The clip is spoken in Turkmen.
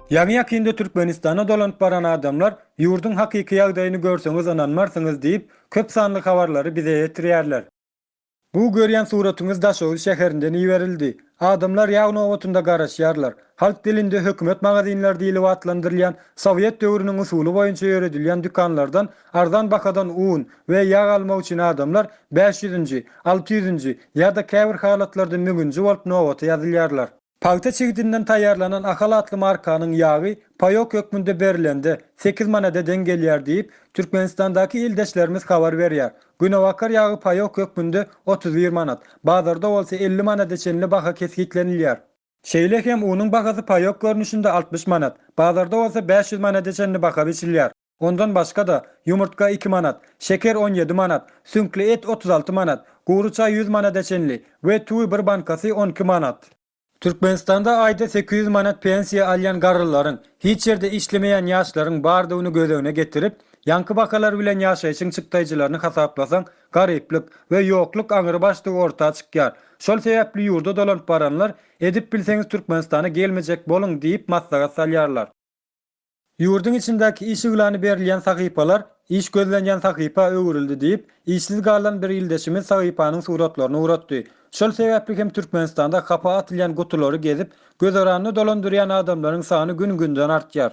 Ýaňy-ýakynda Türkmenistana dolanyp baran adamlar ýurduň hakyky ýagdaýyny görseňiz ynanmarsyňyz diýip, köp sanly habarlary bize ýetirýärler. Bu görýän suratyňyz Daşoguz şäherinden iberildi. Adamlar ýag nobatynda garaşýarlar. Halk dilinde hökümet magazinleri diýlip atlandyrylýan sowet döwrüniň usuly boýunça ýöredilýän dükanlardan Arzan bahadan un we ýag almak üçin adamlar bäş ýüzünji, alty ýüzünji ýa-da käbir halatlarda müňünji bolup nobata ýazylýarlar. Pagta çigidinden taýýarlanan Ahal atly markanyň ýagy paýok hökmünde berilende sekiz manada deň gelýär diýip, Türkmenistandaky ildeşlerimiz habar berýär. Günebakar ýagy paýok hökmünde otuz bir manat, bazarda bolsa elli manada çenli baha kesgitlenilýär. Şeýle hem unuň bahasy paýok görnüşinde altmyş manat, bazarda bolsa bäş ýüz manada çenli baha biçilýär. Ondan başga-da, ýumurtga iki manat, şeker on ýedi manat, süňkli et otuz alty manat, gury çaý ýüz manada çenli we tüwi bir bankasy on iki manat. Türkmenistanda aýda sekiz ýüz manat pensiýa alýan garrylaryň, hiç ýerde işlemeýän ýaşlaryň bardygyny göz öňüne getirip, ýaňky bahalar bilen ýaşaýşyň çykdaýjylaryny hasaplasaň, garyplyk we ýokluk aňrybaşdygy orta çykýar. Şol sebäpli ýurda dolanyp baranlar edip bilseňiz Türkmenistana gelmejek boluň diýip maslahat salýarlar. Ýurduň içindäki iş yglany berilýän sahypalar iş gözlenýän sahypa öwrüldi diýip, işsiz galan bir ildeşimiz sahypanyň suratlaryny ugratdy. Şol sebäpli hem Türkmenistanda hapa atylýan gutulary gezip, gözaranyny dolandyrýan adamlaryň sany gün-günden artýar.